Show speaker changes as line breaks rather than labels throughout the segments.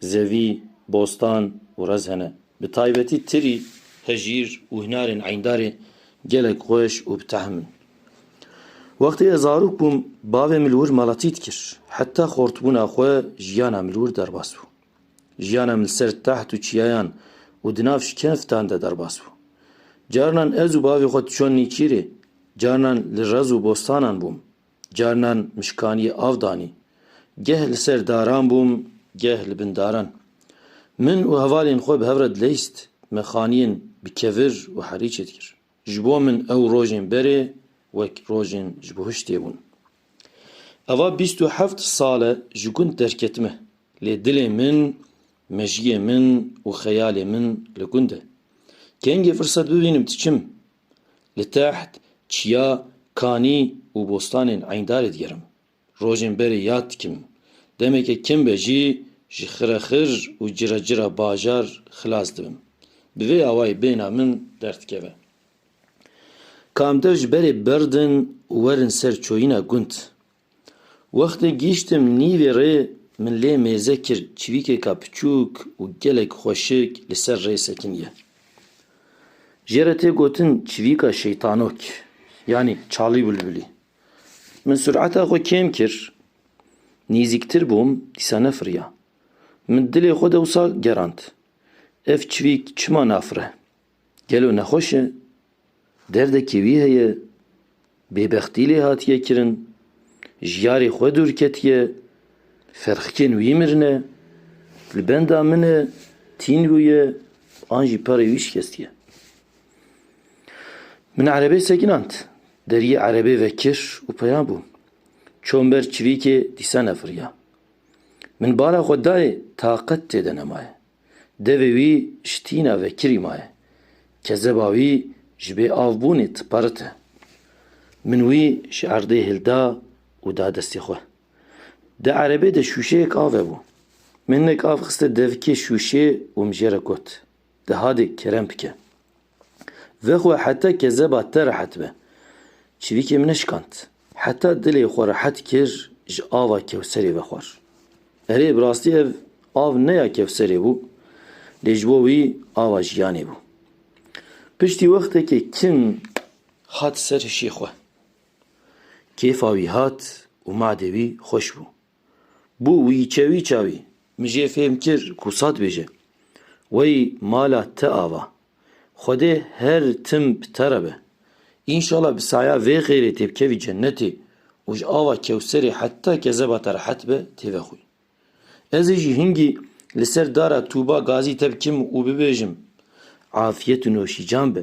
Zevî, Bostan û Rez hene. Bi taybetî tirî, hejîr û hinarên Eyndarê gelek xweş û bi tehm in. Wextê ez zarok bûm, bavê min li wir malatî dikir. Heta xortbûna xwe jiyana min li wir derbas bû. Jiyana min li ser teht û çiyayan û di nav şikeftan de derbas bû. Carinan ez û bavê xwe diçon nîçîrê, carinan li rez û bostanan bûm. Carinan mişkaniyê av danî. Geh li ser daran bûm, geh li bin daran. Min û hevalên xwe bi hev re dileyst, mexaniyên bi kevir û herî çêdikir. Ji bo min ew rojên berê wek rojên ji bo hiştê bûn. Ava bîst û heft sal e ji gund derketime, lê dilê min, mejiyê min û xeyalê min li gund e. Kengê firset bibînim diçim. Li teht çiya Kanî û Bostanên Eyndarê digerim. Rojên berê yad dikim. Demeke kem be jî ji xirexir û ciracira bajar xilas dibim. Bi vê awayî bêhna min derdikeve. Ka em dev ji berê berdin û werin ser çoyîna gund, Wextê gihîştim nîvê rê min lê mêze kir çivîkêka piçûk û gelek xweşik li ser rê sekiniye. Jê re tê gotin çivîka şeytanok yanî çalî bulbulî. Min sureta xwe kêm kir nîzîktir bûm dîsa nefiriya. Min dilê xwe dewsa gerand ev çivîk çima nafire? Gelo nexweş e? Derdekî wî heye? Bêbextî lê hatiye kirin? Ji yarê xwe dûr ketiye? Ferxkên wî mirine? Li benda min e, Tîngu ye an jî perê wî şikestiye? Min erebê sekinand, deriyê erebê vekir û peya bûm. Çûm ber çivîkê dîsa nefiriya. Min bala xwe dayê taqet tê de nemaye. Devê wî ji tîna vekirî maye. Kezeba wî ji bê av bûnê tiparit e. Min wî ji erdê hilda û da destê xwe. Di erebê de şûşeyek ave bû. Min hinek av xiste devkê şûşê û min jê re got, Di hadê kerem bike. Ve xwe heta kezeba te rehet be. Çivîkê min neşikand. Heta dilê xwe rehet kir ji ava Kewserê ve xwar. Erê, bi rastî ev av ne ya Kewserê bû, lê ji bo wî ava jiyanê bû. Piştî wextekê kin hat ser hişê xwe. Kêfa wî hat û madê wî xweş bû. Bû wîçe wîça wî. Min jê fêm kir ku sa dibêje. Wey mala te ava. Xwedê her tim bi te re be. Înşala bi saya vê xêrê têbikevî cennetê û ji ava kewserê heta kezeba te rehet be têvexwî. Ez ê jî hingî li ser dara Tûba Gazî te bikim û bibêjim, Afiyet û noşîcan be.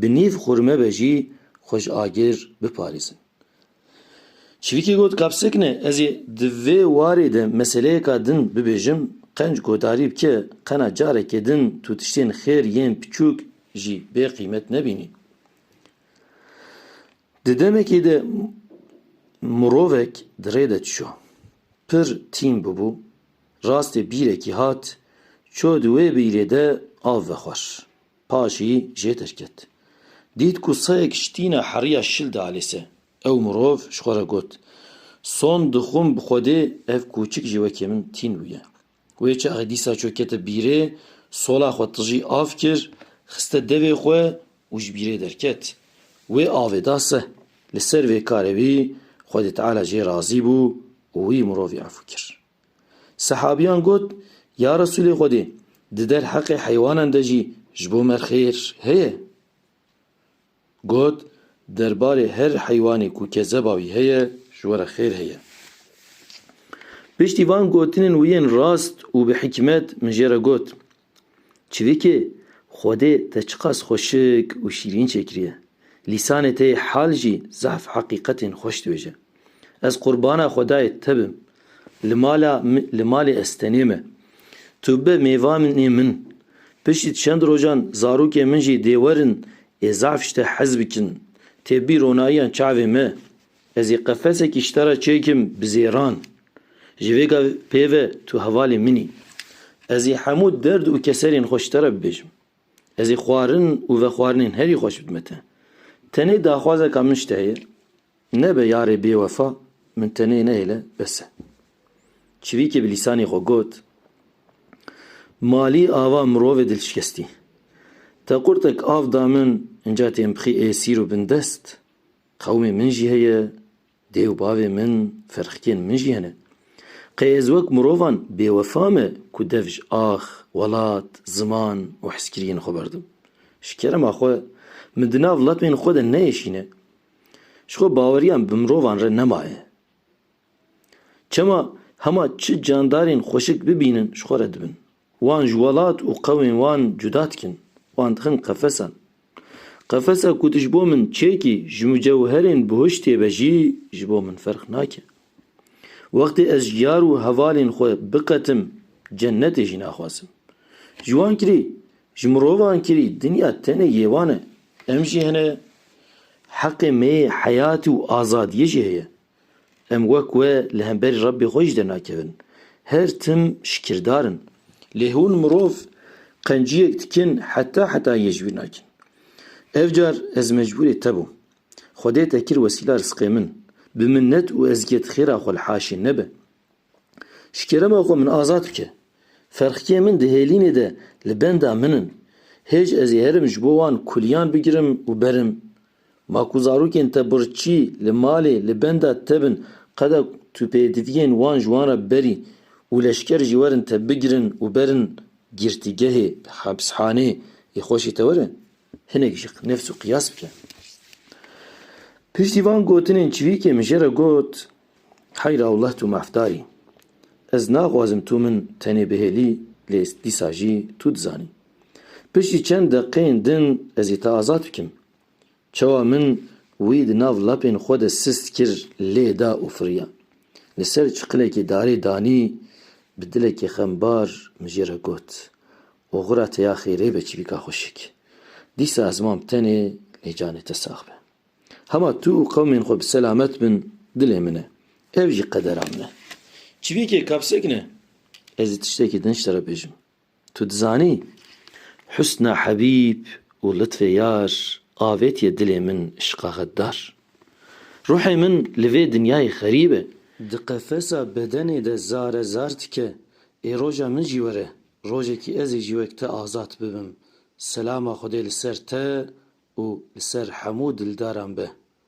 bi nîv xurme ve jî xwe ji agir biparêzin. Çivîkê got, Kapsikne, ez ê di vê warê de meseleyeka din bibêjim, qenc guhdarî bike, qena careke din tu tiştên xêr yên piçûk jî bê qîmet nebînî. Di demekê de mirovek di rê de dişo. Pir tîm bûbû, rastê bîrekî hat, çû di wê bîrê de av vexwar. Paşî jê derket. Dît ku sayek ji tîna heriya şil de alêse. Ew mirov ji xwe re got, Son dixwim bi Xwedê ev kûçik jî wekî min tîn bûye. Wê çaxê dîsa çû kete bîrê, sola xwe tijî av kir, xiste devê xwe û ji bîrê derket. Wê avê da se. Li ser vê karê wî Xwedê Teala jê razî bû û wî mirovî efû kir. Sehabîyan got, Ya Resûlê Xwedê! Di der heqê heywanan de jî ji bo me xêr heye? Got, Der barê her heywanê ku kezeba wî heye ji we re xêr heye. Piştî van gotinên wî yên rast û bi hikmet min jê re got, Çivîkê Xwedê te çiqas xweşik û şîrîn çêkiriye. Lîsanê te yê hal jî zehf heqîqetên xweş dibêje. Ez qurbana Xwedayê te bim. Li mala li malê ez tenê me. Tu bi mêvanê min. Piştî çend rojan zarokên min jî dê werin ê zehf ji te hez bikin. Tê bî ronayiyan çavê me. Ez ê qefesekî ji te re çêkim bi zêran. Ji vê gavê pê ve tu hevalê min î. Ez ê hemû derd û keserên xwe ji te re bibêjim. Ez ê xwarin û vexwarinên herî xweş bidime te. Tenê daxwazeka min ji te heye, nebe yarê bêwefa, min tenê nehêle, bes e. Çivîkê bi lîsanê xwe got, Malî ava mirovê dilşikestî. Te qurtek av da min, inca tên bixî ê sîr û bindest. Qewmê min jî heye, dê û bavê min, ferqikên min jî hene. Qey ez wek mirovan bêwefa me ku dev ji ax, welat, ziman û hizkiriyên xwe berdim. Ji kerema xwe min di nav lepên xwe de neêşîne. Ji xwe baweriyan bi mirovan re nemaye. Çima hema çi candarên xweşik bibînin ji xwe re dibin. Wan ji welat û qewmên wan cuda dikin, wan dixin qefesan. Qefesa ku tu ji bo min çekî ji mucewherên bihuştê ve jî ji bo min ferq nake. Wextê ez ji yar û hevalên xwe biqetim cennetê jî naxwazim. Ji wan kirî, ji mirovan kirî dinya tenê yê wan e. Em jî hene, heqê me yê heyatê û azadiyê jî heye. Em wek we li hemberî Rebbê xwe jî dernakevin. Her tim şikirdar in. Lê hûn mirov qenciyek dikin heta heta yê ji wî nakin. Ev car ez mecbûrê te bûm. Xwedê te kir wesîla risqê min. Bi minnet û ezgiyet xêra xwe li haşê nebe. Ji kerema xwe min azad bike. Ferqiyên min di hêlînê de li benda min in. Hêj ez ê herim ji bo wan kuliyan bigirim û berim. Ma ku zarokên te birçî li malê li benda te bin qada tu pêdiviyên wan ji wan re berî û leşker jî werin te bigirin û berin girtîgehê, hapshanê, yê xweşê te were? Hinek ji nefs û qiyas bike. Piştî van gotinên çivîkê min jê re got. Hey rawleh tu mafdarî. Ez naxwazim tu min tenê bihêlî lê dîsa jî tu dizanî. Piştî çend deqeyên din ez ê te azad bikim. Çawa min wî di nav lapên xwe de sist kir lê da û firiya. Li ser çiqilekî darê danî bi dilekî xembar min jê re got, Oxira te ya xêrê be çivîka xweşik. Dîsa ez mam tenê lê canê te sax be. Hema tu û qewmên xwe bi selamet bin dilê min e. Ev jî qedera min e. Çivîkê kapsek ne. Ez ê tiştekî din ji te re bêjim. Tu dizanî husna hebîb û litfê yar avêtiye dilê min îşqa xeddar. Ruhê min li vê dinyayê xerîb e. Di qefesa bedenê de zare zar dike. Ê roja min jî were, rojekî ez ê jî wek te azad bibim. Selama Xwedê li ser te û li ser hemû dildaran be.